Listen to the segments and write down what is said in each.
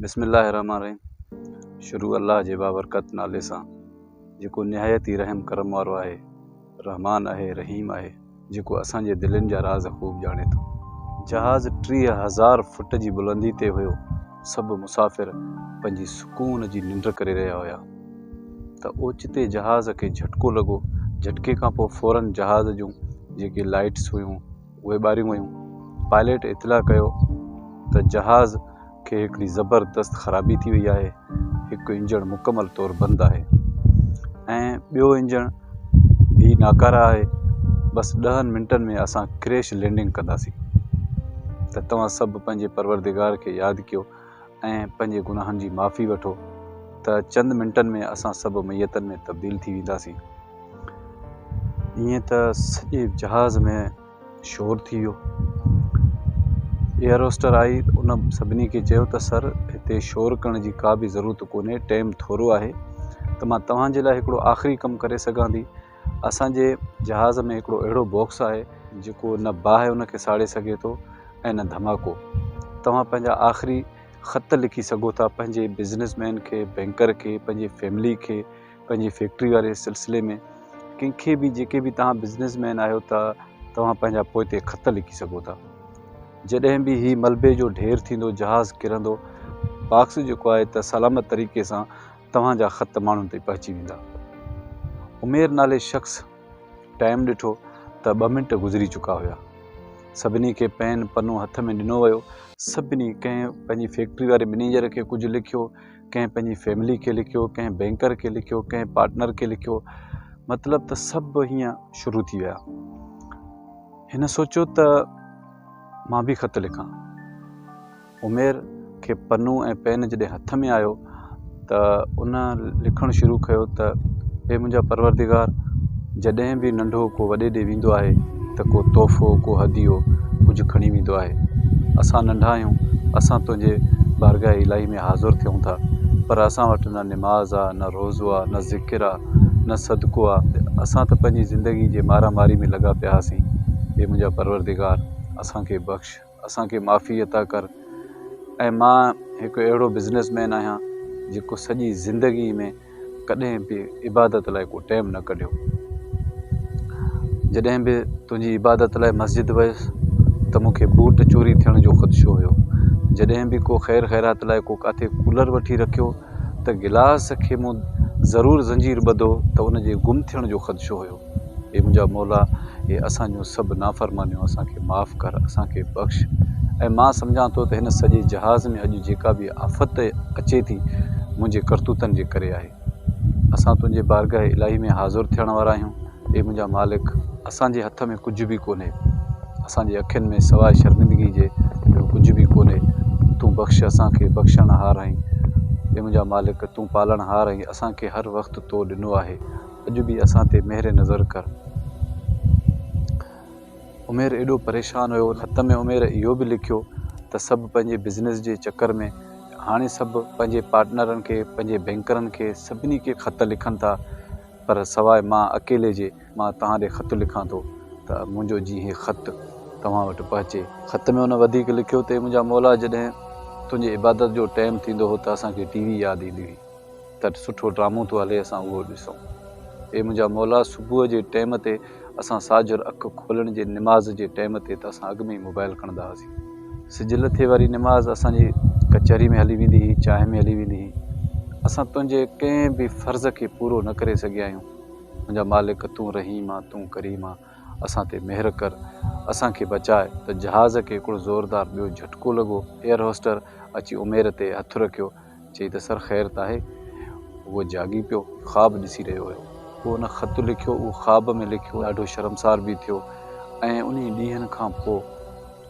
بسم الله الرحمٰن الرحيم شروع الله جي بابرڪت نالي سان جيڪو نهايت ئي رحم ڪرم وارو آهي رحمان آهي رحيم آهي جيڪو اسان جي دلين جا راز خوب ڄاڻي ٿو. جهاز ٽيهه هزار فٽ جي بلندي تي هيو سڀ مسافر پنهنجي سڪون جي ننڊ ڪري رهيا هيا ته اوچتي جهاز کي جهٽڪو لڳو جهٽڪي کانپوء فورن جهاز جون جيڪي لائيٽس هيون اهي ٻاريون ويون. پائليٽ اطلاع ڪيو ته جهاز کي هڪڙي زبردست خرابي ٿي وئي آهي، هڪ انجڻ مڪمل طور بند آهي ۽ ٻيو انجڻ به ناڪاره آهي، بس ڏهن منٽن ۾ اسان ڪريش لينڊنگ ڪنداسين ته توهان سڀ پنهنجي پروردگار کي ياد ڪيو. ۽ پنهنجي گناهن جي معافي وٺو ته چند منٽن ۾ اسان سڀ ميتن ۾ تبديل ٿي وينداسين. ائين ته سڄي جهاز ۾ شور ٿي ويو. ايئروسٽر آئي ان سڀني کي چيو ته سر هتي شور ڪرڻ جي ڪا به ضرورت ڪونهي، ٽيم ٿورو آهي ته مان توهان جي لاء هڪڙو آخري ڪم ڪري سگهان ٿي. اسان جي جهاز ۾ هڪڙو اهڙو باڪس آهي جيڪو نه باهه ان کي ساڙي سگهي ٿو ۽ نه ڌماڪو. توهان پنهنجا آخري خط لکي سگهو ٿا پنهنجي بزنس مين کي، بينڪر کي، پنهنجي فيملي کي، پنهنجي فيڪٽري واري سلسلي ۾ ڪنهن کي به جيڪي به توهان بزنس مين آهيو ته توهان پنهنجا پوئتي خط لکي سگهو ٿا. جڏهن به هي ملبي جو ڍير ٿيندو جهاز ڪرندو باڪس جيڪو آهي ته سلامت طريقي سان توهان جا خط ماڻهن تائين پهچي ويندا. عمير نالي شخص ٽائيم ڏٺو ته ٻه منٽ گذري چڪا هيا. سڀني کي پين پنو هٿ ۾ ڏنو ويو. سڀني ڪنهن پنهنجي فيڪٽري واري مئنيجر کي ڪجهه لکيو، ڪنهن پنهنجي فيملي کي لکيو، ڪنهن بئنڪر کي لکيو، ڪنهن پارٽنر کي لکيو. مطلب ته سڀ هيئن شروع ٿي ويا. هن سوچيو ته مان به خط لکان. عمير کي پنو ۽ پين جڏهن هٿ ۾ آيو ته ان لکڻ شروع ڪيو ته اي منهنجا پروردگار جڏهن به ننڍو ڪو وڏي ڏي ويندو آهي ته ڪو تحفو ڪو هديو ڪجهه کڻي ويندو آهي اسان ننڍا آهيون اسان تنهنجي بارگاهه الاهي ۾ حاضر ٿيون ٿا پر اسان وٽ نه نماز آ نه روزو آ نه ذڪر آ نه صدقو آ اسان ته پنهنجي زندگي جي مارا ماري ۾ لڳا پيا هئاسين اي منهنجا پروردگار اسان کي بخش. اسان کي معافي عطا ڪر ۽ مان هڪ اهڙو بزنس مين آهيان جيڪو سڄي زندگي ۾ ڪڏهن به عبادت لاء ڪو ٽيم نه ڪڍيو جڏهن به تنهنجي عبادت لاء مسجد ويس ته مون کي بوٽ چوري ٿيڻ جو خدشو هيو جڏهن به ڪو خير خيرات لاء ڪو ڪاٿي ڪولر وٺي رکيو ته گلاس کي مون ضرور زنجير ٻڌو ته ان جي گم ٿيڻ جو خدشو هيو اي منهنجا مولا هي اسان جون سڀ نافرمانيون اسان کي معاف ڪر اسان کي بخش ۽ مان سمجهان ٿو ته هن سڄي جهاز ۾ اڄ جيڪا به آفت اچي ٿي منهنجي ڪرتوتن جي ڪري آهي اسان تنهنجي بارگاهه الاهي ۾ حاضر ٿيڻ وارا آهيون اي منهنجا مالڪ اسان جي هٿ ۾ ڪجهه به ڪونهي اسان جي اکين ۾ سواء شرمندگي جي ٻيو ڪجهه به ڪونهي تون بخش اسان کي بخشڻ هار آهين اي منهنجا مالڪ تون پالڻ هار آهين اسان کي هر وقت تو ڏنو آهي اڄ به اسان تي مهر نظر ڪر. عمير ايڏو پريشان هيو خط ۾ عمير اهو به لکيو ته سڀ پنهنجي بزنس جي چڪر ۾ هاڻي سڀ پنهنجي پارٽنرن کي پنهنجي بينڪرن کي سڀني کي خط لکن ٿا پر سواء مان اڪيلي جي مان توهان ڏي خط لکان ٿو ته منهنجو جي هي خط توهان وٽ پهچي. خط ۾ هن وڌيڪ لکيو ته اي منهنجا مولا جڏهن تنهنجي عبادت جو ٽيم ٿيندو هو ته اسان کي ٽي وي ياد ايندي هئي. ته سٺو ڊرامو ٿو هلي اسان اهو ڏسون. اي منهنجا مولا صبح جي ٽيم تي اسان ساجهر اک کولڻ جي نماز جي ٽيم تي ته اسان اڳ ۾ ئي موبائل کڻندا هئاسين. سج لٿي واري نماز اسان جي ڪچهري ۾ هلي ويندي هئي، چانهه ۾ هلي ويندي هئي. اسان تنهنجي ڪنهن به فرض کي پورو نه ڪري سگهيا آهيون. منهنجا مالڪ تون رحيم آن تون ڪريم آن اسان تي مهر ڪر اسان کي بچاء ته جهاز کي هڪڙو زوردار ٻيو جهٽڪو لڳو ايئر هوسٽر اچي عمير تي هٿ رکيو چئي ته سر خير ته آهي؟ هو جاڳي پيو، خواب ڏسي رهيو هيو. هو ان خط لکيو، اهو خواب ۾ لکيو، ڏاڍو شرمسار به ٿيو ۽ انهي ڏينهن کان پوء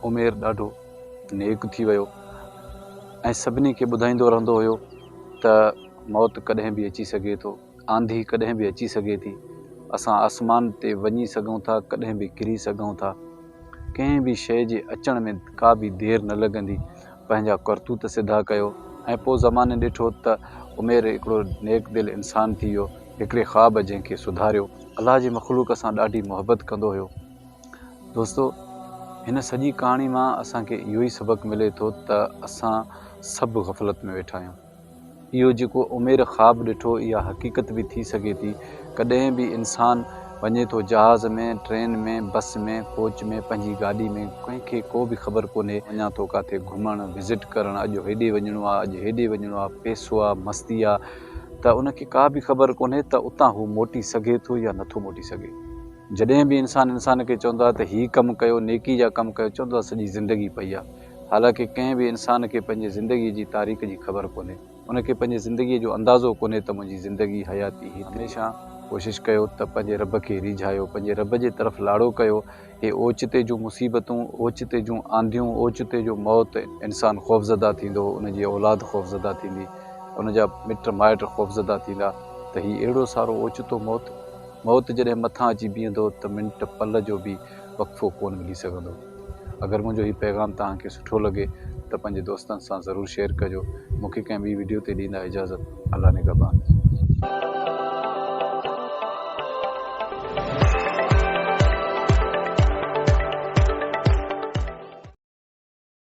عمير ڏاڍو نيڪ ٿي ويو ۽ سڀني کي ٻڌائيندو رهندو هيو ته موت ڪڏهن به اچي سگهي ٿو، آنڌي ڪڏهن به اچي سگهي ٿي، اسان آسمان تي وڃي سگهون ٿا، ڪڏهن به ڪري سگهون ٿا. ڪنهن به شيء جي اچڻ ۾ ڪا به دير نه لڳندي. پنهنجا ڪرتوت سڌا ڪيو ۽ پوء زماني ڏٺو ته عمير هڪڙو نيڪ دل انسان ٿي ويو. هڪڙي خواب جنهن کي سڌاريو. الله جي مخلوق سان ڏاڍي محبت ڪندو هيو. دوستو! هن سڄي ڪهاڻي مان اسان کي اهو ئي سبق ملي ٿو ته اسان سڀ غفلت ۾ ويٺا آهيون. اهو جيڪو امير خواب ڏٺو اها حقيقت به ٿي سگهي ٿي. ڪڏهن به انسان وڃي ٿو جهاز ۾، ٽرين ۾، بس ۾، ڪوچ ۾، پنهنجي گاڏي ۾، ڪنهن کي ڪو به خبر ڪونهي، وڃان ٿو ڪاٿي گهمڻ، وزٽ ڪرڻ، اڄ هيڏي وڃڻو آ، اڄ هيڏي وڃڻو آ، پئسو آ، مستي آ، ته ان کي ڪا به خبر ڪونهي ته اتان هو موٽي سگهي ٿو يا نٿو موٽي سگهي. جڏهن به انسان انسان کي چوندو آ ته هي ڪم ڪيو، نيڪي جا ڪم ڪيو، چوندو آ سڄي زندگي پئي آ. حالانڪه ڪنهن به انسان کي پنهنجي زندگيء جي تاريخ جي خبر ڪونهي. ان کي پنهنجي زندگيء جو اندازو ڪونهي ته منهنجي زندگي، حياتي، هتي. هميشه ڪوشش ڪيو ته پنهنجي رب کي ريجهايو، پنهنجي رب جي طرف لاڙو ڪيو. هي اوچتي جون مصيبتون، اوچتي جون آنڌيون، اوچتي جو موت، انسان خوفزده ٿيندو، ان جي اولاد خوفزده ٿيندي، ان جا مٽ مائٽ خوفزده ٿيندا ته هي اهڙو سارو اوچتو موت؟ موت جڏهن مٿان اچي بيهندو ته منٽ پل جو به وقفو ڪونه ملي سگهندو. اگر منهنجو هي پيغام توهان کي سٺو لڳي ته پنهنجي دوستن سان ضرور شيئر ڪجو. مون کي ڪنهن ٻي وڊيو تي ڏيندا اجازت. الله نگهبان.